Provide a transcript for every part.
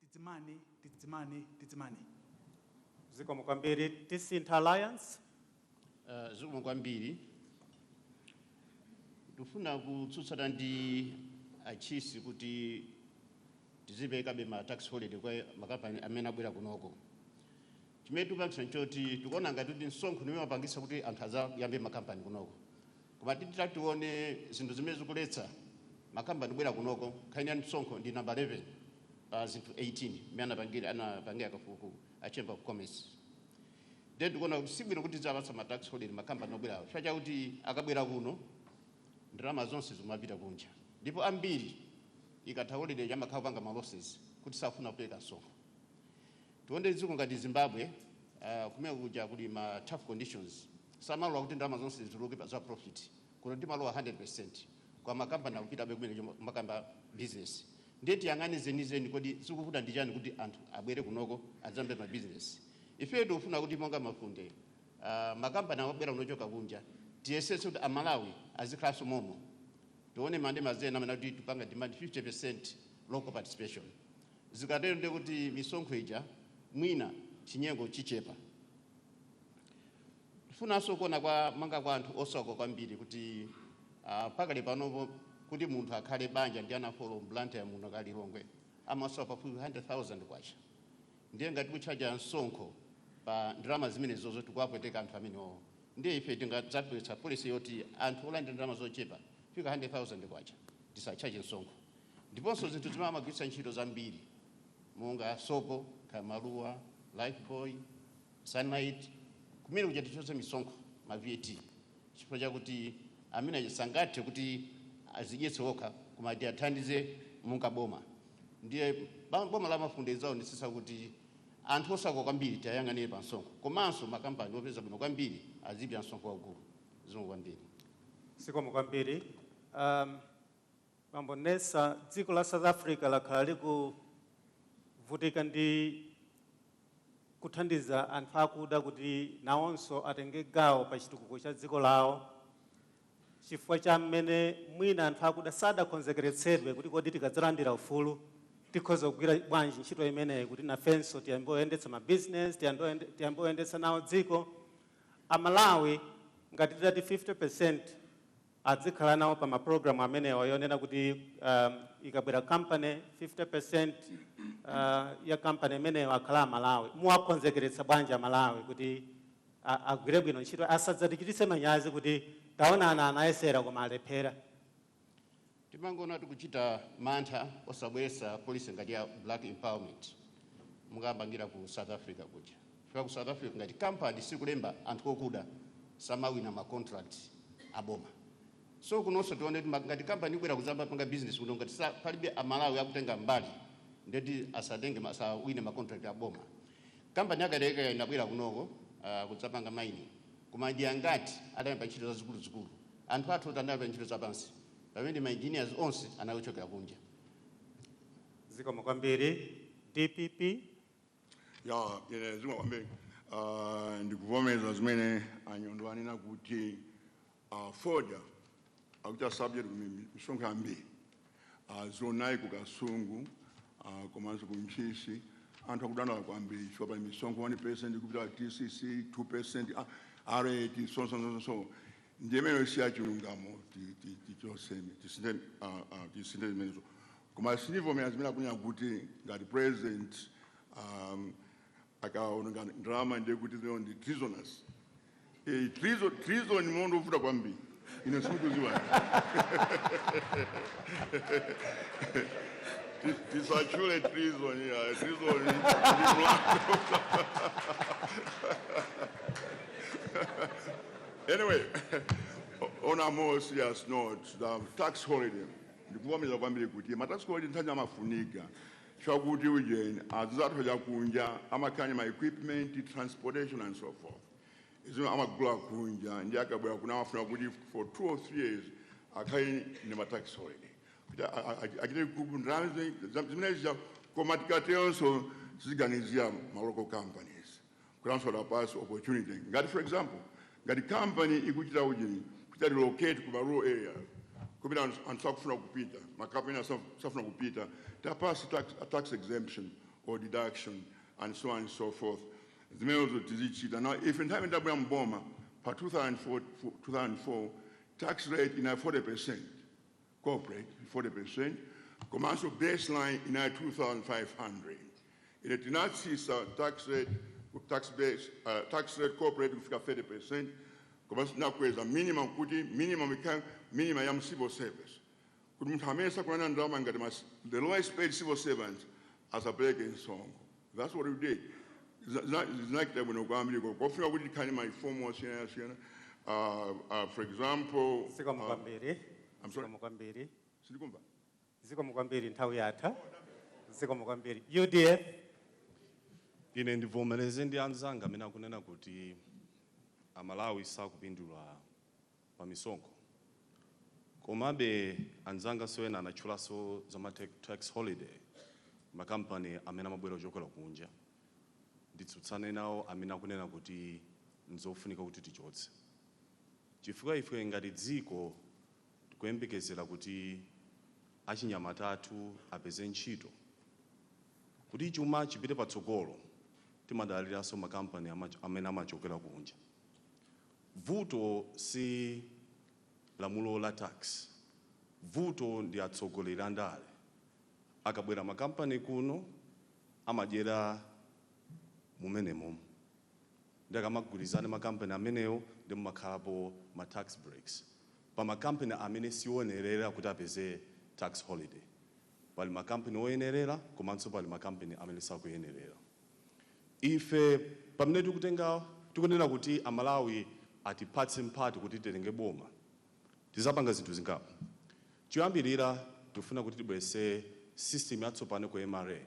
Tidzimane, tidzimane, tidzimane. Zikomo kwambiri. Tisintha Alliance. Uh, zikomo kwambiri. Ndifuna kutsutsana ndi atchisi kuti tiziperekabe ma tax holiday kwa makampani amene abwera kunoko. Chimene tikupangitsa n'choti tikuona ngati kuti msonkho ndi umene wapangitsa kuti anthu adzayambe makampani kunoko. Koma titati tione zinthu zimene zikuletsa makampani kubwera kunoko, nkhani ya msonkho ndi number 11 pa zinthu 18 mmene anapangira anapangira kafukufuku a Chamber of Commerce. Ndiye tikuona kuti sibwino kuti tidziwapatsa ma tax holiday makampani obwerawa chifukwa chakuti akabwera kuno ndalama zonse zikumapita kunja ndipo ambiri ikatha holiday amakhala akupanga ma losses kuti sakufuna kupereka msonkho. Tione dziko ngati Zimbabwe kumeneko kuja kuli ma tough conditions samalola kuti ndalama zonse zituluke pa za profit. Kuno timalola 100% koma ma company akupitabe kumeneko kukayamba business. Ndiye tiyang'ane zenizeni kodi zikuvuta ndi chani kuti anthu abwere kunoko adzayambe ma business. Ifeyo tikufuna kuti monga Mafunde ma company amabwera kuno ochoka kunja tiyesetse kuti a Malawi azikhalanso momwemo. Tione manifesto ena amanena kuti tipanga demand 50% local participation. Zikatero ndiye kuti misonkho ija mwina chinyengo chichepa. Tifunanso kuona kumbali kwa anthu osauka kwambiri kuti uh, pakali panopo kuti munthu akhale banja ndi ana four mu Blantyre muno kaya Lilongwe amasowa pafupi 100,000 kwacha. Ndiye ngati kutchaja msonkho pa ndalama zimenezozo tikuwapweteka anthu amenewo, ndiye ife tingadzabweretse policy yoti anthu olandira ndalama zochepa kufika 100,000 kwacha tisatchaje msonkho. ndiponso zinthu zimene amagwiritsa ntchito zambiri monga sopo, kaya Maluwa, Lifebuoy, Sunlight, kumene kuja tichotse misonkho, ma VAT, chifukwa chakuti amene aja sangathe kuti azidyetse okha koma tiwathandize monga boma. Ndiye ba- boma la Mafunde lidzaonetsetsa kuti anthu osauka kwambiri tiwayang'anire pa msonkho komanso makampani opeza bwino kwambiri azilipira msonkho waukulu zikomo kwambiri. Zikomo kwambiri. Um, Bambo Nnesa, dziko la South Africa lakhala likuvutika ndi kuthandiza anthu akuda kuti nawonso atenge gawo pa chitukuko cha dziko lawo chifukwa cha mmene mwina anthu akuda sadakhonzekeretsedwe kuti kodi tikadzalandira ufulu tikhoza kugwira bwanji ntchito imeneyi kuti nafenso tiyambe kuyendetsa ma business tiyambe kuyende- tiyambe kuyendetsa nawo dziko Amalawi ngati titati 50% adzikhala nawo pa ma program amenewa yonena kuti ikabwera company 50% ya company imeneyo akhala a Malawi. Muwakonzekeretsa bwanji a Malawi kuti agwire bwino ntchito asadzatichititse manyazi kuti taonani anayesera koma alephera. Timangoona tikuchita mantha osabweretsa policy ngati ya black empowerment mukayamba ngati ku South Africa kuja. chifukwa ku south africa ngati company sikulemba anthu okuda samawina ma contract aboma so kunonso tione kuti ma- ngati company ibwera kuzamba panga business kuno ngati sa- palibe amalawi akutenga mbali ndeti asatenge ma- asawine ma contract aboma kampani ya Kayelekera inabwera kunoko uh, kudzapanga mining koma ndi angati adayamba ntchito zazikuluzikulu anthu athu oti anayamba ntchito zapansi pamene ma engineers onse anachokera kunja zikomo kwambiri dpp ya zikomo kwambiri Ah, ndikuvomeza zimene a Nyondo anena kuti ah, fodya akuchita subject misonkho yambiri Ah, zoonadi ku kasungu ah, komanso ku ntchisi anthu akudandaula kwambiri chifukwa pali misonkho 1 percent kupita tcc 2 percent rrt so so so so ndiye imeneyo si yachilungamo ti- ti- tichoseme tisinthe ah, ah, tisinthe zimenezo Koma sindivomereza zimene akunena kuti ngati president akaononga ndalama ndiye kuti zimenezo ndi treasonous. Eyi treason, treason ndi mlandu wovuta kwambiri. Ine sindikudziwa. Ti- Tisatchule treason ya treason ndi mlandu. Anyway, on a more serious note, the tax holiday. Ndikuvomereza kwambiri kuti ma tax holiday nthawi zina amafunika chifukwa kuti ujeni anzathu akunja amakhala ndi ma equipment transportation and so forth zino amagula kunja ndi akabwera kuno amafuna kuti for two or three years akhale ndi ma tax holiday kuti a- a- a- achite recoup ndalama zimene- za- zimene zija koma tikateronso tiziganizira ma local companies kuti nawonso tiwapatse opportunity ngati for example ngati company ikuchita ujeni kuchita relocate ku rural area kumene anthu anthu sakufuna kupita makampani ena saf- safuna kupita tiwapatse tax, a tax exemption or deduction and so on and so forth zimenezo tizichita now if nthawi imene ndabwera mboma pa 2004, 2004 tax rate inali 40 percent corporate 40% komanso baseline inali 2500 ine tinatsisa tax rate tax base uh, tax rate corporate kufika 30% komanso tinakweza minimum kuti minimum ikhale minimum ya mu civil service kuti munthu amene sakulandira ndalama ngati mas the lowest paid civil servants asapereke msonkho That's what we did. Za- za- Zinachita bwino kwambiri ko- kofika kuti tikhale ma reform osiyanasiyana. Uh, uh, for example, zikomo uh, kwambiri I'm sorry? zikomo kwambiri sindikumva. zikomo kwambiri nthawi yatha zikomo kwambiri UDF. Ine ndivomereze ndi anzanga amene akunena kuti Amalawi sakupindula pa misonkho. Komabe, anzanganso ena anatchulanso za ma tax holiday, makampani amene amabwera kuchokera kunja. Nditsutsane nawo amene akunena kuti n'zofunika kuti tichotse chifukwa ife ngati dziko tikuyembekezera kuti achinyamata athu apeze ntchito. Kuti chuma chipite patsogolo, timadaliranso makampani amene amachokera kunja. Vuto si lamulo la tax, vuto ndi atsogoleri andale. Akabwera makampani kuno amadyera mumenemo ndiye akamagwirizana makampani amenewo ndiye mumakhalapo ma tax breaks pa makampani amene si oyenerera kuti apeze tax holiday. Pali makampani oyenerera komanso pali makampani amene sakuyenerera. Ife pamene tikutenga tikunena kuti a Malawi atipatse mpati kuti titenge boma, tizapanga zinthu zingapo. Choyambirira tikufuna kuti tibweretse system yatsopano ku MRA.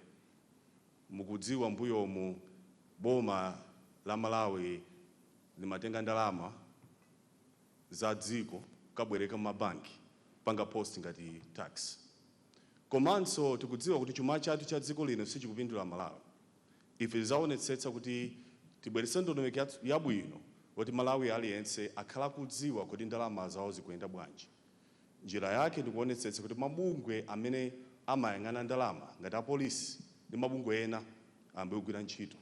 Mukudziwa mbuyomu boma la Malawi limatenga ndalama za dziko kukabwereka m'mabanki kupanga post ngati tax. komanso tikudziwa kuti chuma chathu cha dziko lino sichikupindula Malawi, ife tizaonetsetsa kuti tibweretse ndondomeko yabwino yoti Mmalawi aliyense akhale akudziwa kodi ndalama zawo zikuyenda bwanji. Njira yake ndikuonetsetsa kuti mabungwe amene amayang'ana ndalama ngati apolisi ndi mabungwe ena ayambe kugwira ntchito.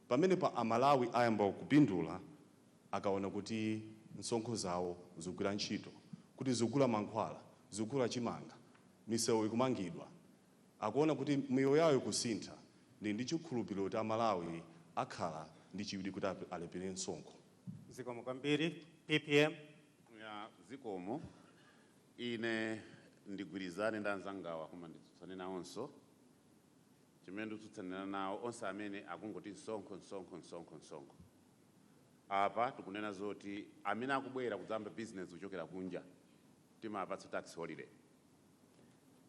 Pamenepa Amalawi ayamba kupindula akaona kuti msonkho zawo zikugwira ntchito, kuti zikugula mankhwala, zikugula chimanga, misewu ikumangidwa, akuona kuti miyoyo yawo ikusintha, ndili ndi chikhulupiriro kuti a Malawi akhala ndi chidwi kuti alipire msonkho. Zikomo kwambiri. PPM. Ya, zikomo. Ine ndigwirizane ndi anzangawa koma nditsutsane nawonso. Chimene ndikutsutsanirana nawo, onse amene akungoti msonkho, msonkho, msonkho, msonkho. Apa tikunena zoti amene akubwera kudzayamba business kuchokera kunja timawapatsa tax holiday.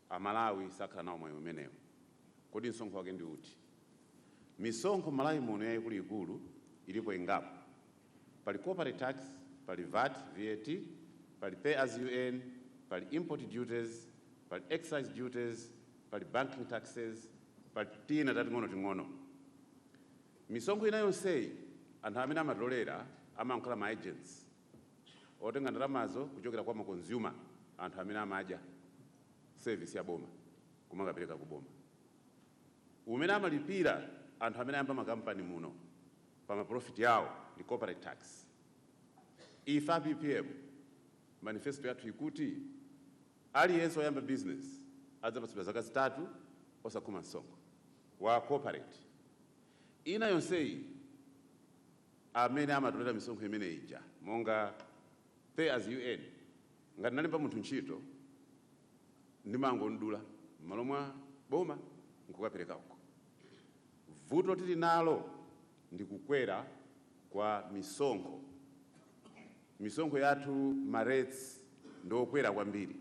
A Malawi sakhala nawo mwayi umenewu. Kodi msonkho wake ndi uti? Misonkho m'Malawi muno yaikuluikulu ilipo ingapo. Pali corporate tax, pali vat, VAT, pali pay as you earn, pali import duties, pali excise duties, pali banking taxes, pali tina tating'onoting'ono. Misonkho ina yonseyi anthu amene amatolera amakhala ma agents otenga ndalamazo kuchokera kwa ma consumer, anthu amene amadya service ya boma kumakapereka ku boma. Umene amalipira anthu amene ayamba makampani muno pa ma profit awo ndi corporate tax. Ife a PPM manifesto yathu ikuti aliyense oyamba business adzapatsidwa zaka zitatu osakhoma msonkho. wa corporate ina yonseyi amene amatolera misonkho imene ija monga pay as you earn ngati ndalemba munthu ntchito ndimangomdula mmalo mwa boma nkukapereka uko vuto tili nalo ndi kukwera kwa misonkho misonkho yathu ma rates ndi okwera kwambiri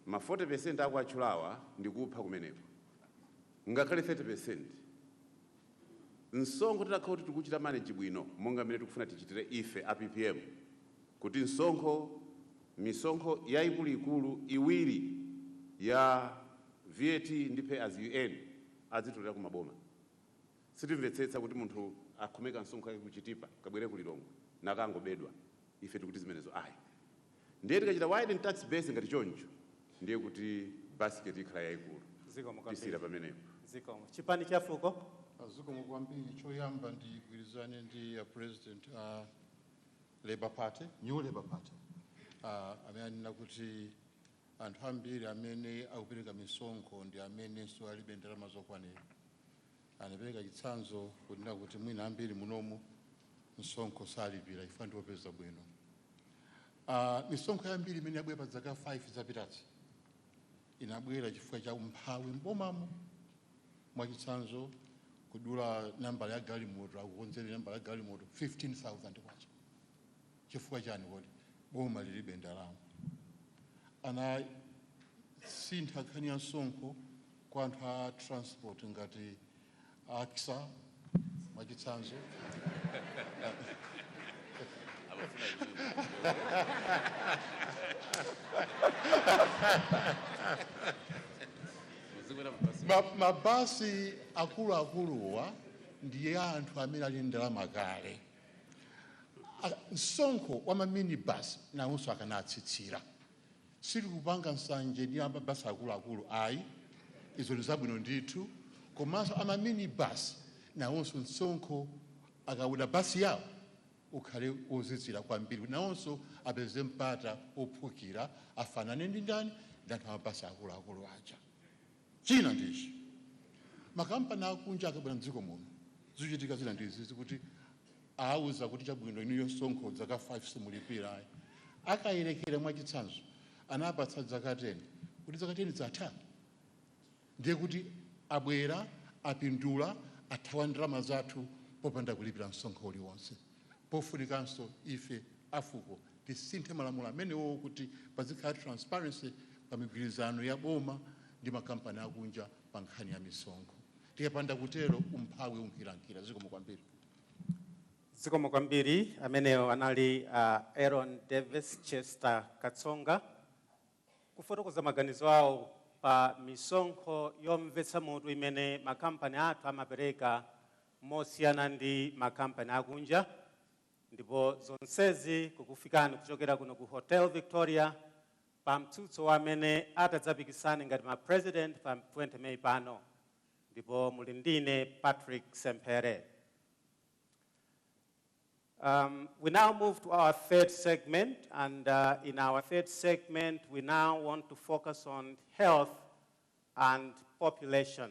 ma 40% akuwatchulawa ndi kupha kumeneko. ngakhale 30%. Msonkho titakhala kuti tikuuchita manage bwino monga mmene tikufuna tichitire ife a PPM kuti msonkho, misonkho yaikuluikulu iwiri ya VAT ndi Pay As You Earn azitolera ku maboma. Sitimvetsetsa kuti munthu akhome kamsonkho kake ku Chitipa kabwere ku Lilongwe nakangobedwa. Ife tikuti zimenezo ayi. Ndiye tikachita widen tax base ngati choncho ndiye kuti basket ikhala yaikulu. Zikomo kwambiri. Tisiira pamenepo. Zikomo. Chipani cha fuko. Zikomo kwambiri. Choyamba ndigwirizane ndi a president a Labour Party, New Labour Party amene anena kuti anthu ambiri amene akupereka misonkho ndi amenenso alibe ndalama zokwanira. Anapereka chitsanzo kunena kuti mwina ambiri munomu msonkho salipira chifukwa ndi opeza bwino. Ah, misonkho yambiri imene yabwera pa zaka 5 zapitazi inabwera chifukwa cha umphawi m'bomamo. Mwachitsanzo, kudula nambala ya galimoto, akukonzera nambala ya galimoto 15,000 kwacha. chifukwa chani kodi boma lilibe ndalama anasintha nkhani ya msonkho kwa anthu a transport ngati axa mwachitsanzo Ma- mabasi akuluakuluwa ndiye anthu amene ali ndi ndalama kale msonkho wa ma minibus nawonso akanatsitsira sitikupanga nsanje ndi amabasi akuluakulu ayi izo ndi zabwino ndithu komanso ama minibus nawonso msonkho akaoda basi yawo ukhale wotsitsira kwambiri nawonso apeze mpata wophukira afanane ndi ndani ndi anthu amabasi akuluakulu aja China ndi ichi, makampani akunja akabwera mdziko muno, zuchitika zina ndi izizi kuti awuza kuti chabwino inuyo msonkho dzaka 5 simulipira ayi. Akayerekera mwa chitsanzo anapatsa dzaka 10, kuti dzaka 10 zatha? Ndiye kuti abwera, apindula, athawa ndalama zathu popanda kulipira msonkho uliwonse. Pofunikanso ife a fuko tisinthe malamulo amenewowo kuti pazikhala transparency pa migwirizano ya boma ndi makampani akunja pa nkhani ya misonkho. Tikapanda kutero umphawi unkirankira. Zikomo kwambiri. Zikomo kwambiri. Amenewo anali a Aaron Davis Chester Katsonga kufotokoza maganizo awo pa misonkho yomvetsa mutu imene makampani athu amapereka mosiyana ndi makampani akunja ndipo zonsezi kukufikani kuchokera kuno ku Hotel Victoria pa mtsutso wa amene atadzapikisane ngati ma President pa 20 May pano ndipo muli ndi ine Patrick Semphere. Um, we now move to our third segment, and uh, in our third segment, we now want to focus on health and population.